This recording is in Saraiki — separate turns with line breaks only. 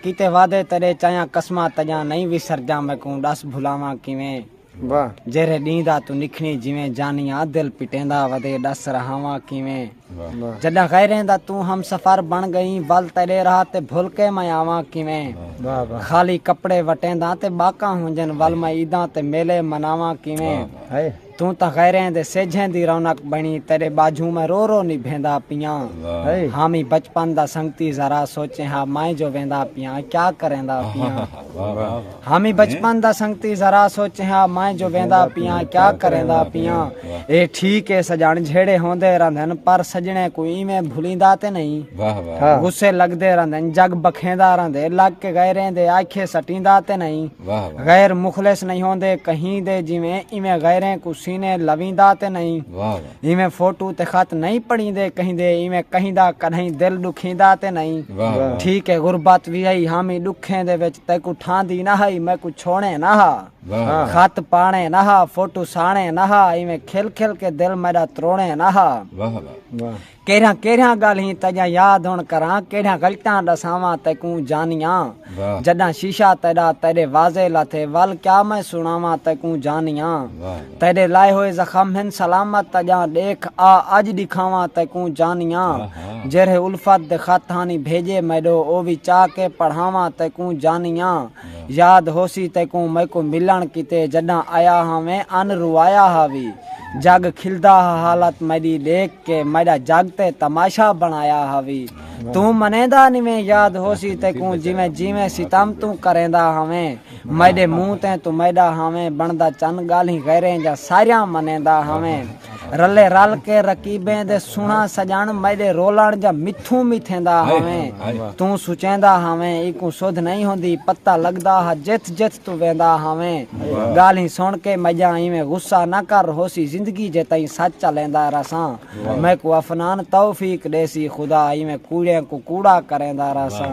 کیتے وعدے تیڈے چایاں قسماں تجاں نئیں وسر جاں میکوں ڈس بھلاواں کیویں واہ جیرھے
ڈینہہ دا
توں نکھنی جیویں جانیاں دل پٹیندا ودے ڈس رہاواں کیویں واہ جڈاں
غیریں دا
توں ہم سفر بن گئیں ول تیڈے راہ تے بھل کے میں آواں کیویں واہ واہ خالی
کپڑے وٹینداں
تے باکاں ہونجن ول میں عیداں تے میلے مناواں کیویں ہائے توں تاں
غیریں
دے سیجھیں دی رونق بنی تیڈے باجھوں میں رو رو نبھیندا پیاں حامی
بچپن دا
سنگتی ذرا سوچیں ہا میں جو ویندا پیاں کیا کریندا پیاں حامی بچپن دا سنگتی ذرا سوچیں ہا میں جو ویندا پیاں کیا کریندا پیاں اے ٹھیک اے سجن جھیڑے ہوندے رہندن پر سجنے کو ایویں بھلیندا تے نہیں غصے
لگدے
رہندن
جگ بکھیندا رہندے لگ کے غیریں دے آکھے سٹیندا تے نہیں غیر
مخلص نہیں
ہوندے کہیں دے جویں ایویں غیریں کو سینے لویندا تے نہیں ایویں
فوٹو تے خط
نہیں پڑھیندے کہیں دے ایویں کہیں دا کدھیں دل دکھیندا تے نہیں ٹھیک ہے
غربت وی
ہئی ہامی دکھیں دے وچ تے کو ٹھاندی نہ ہئی میں کو چھوڑے نہ ہا خط
پانے نہ
ہا فوٹو سانے نہ ہا ایویں کھل کھل کے دل میرا تروڑے نہ ہا
کیرھاں کیرھاں
گالھیں
تیجاں یاد ہن کراں کیڑھیاں غلطاں ڈساواں تیکوں جانیاں جڈاں
شیشہ
تیڈا تیڈے واضح لاتھے ول کیا میں سنڑاواں تیکوں جانیاں تیڈے
لائے ہوئے
زخم ہن سلامت تیجاں ڈیکھ آ اج ڈکھاواں تیکوں جانیاں جیرھے الفت دے خط ہانی بھیجے میڈو او وی چاہ کے پڑھاواں تیکوں جانیاں یاد ہوسی تیکوں میکوں ملݨ کیتے جݙاں آیا ہاں میں ان روایا ہا وی جگ کھلدا ہا حالت میݙی ݙیکھ کے میݙا جگ تے تماشا بݨایا ہا وی توں منیندا نیویں یاد ہوسی تیکوں جیویں جیویں ستم توں کریندا ہاویں میݙے منہ تے توں میݙا ہاویں بݨدا چن ڳالھیں غیریں جاں ساریاں منیندا ہاویں رلے رل کے رکیبیں دے سنا سجن میڈے رولن جا متھو متھیندا ہویں تو سچیندا ہویں ایکو سودھ نہیں ہوندی پتہ لگدا ہا جت جت تو ویندا ہویں گالیں سن کے مجا ایویں غصہ نہ کر ہوسی زندگی جے تائیں سچ چلیندا رساں میکو افنان توفیق دیسی خدا ایویں کوڑیاں کو کوڑا کریندا رساں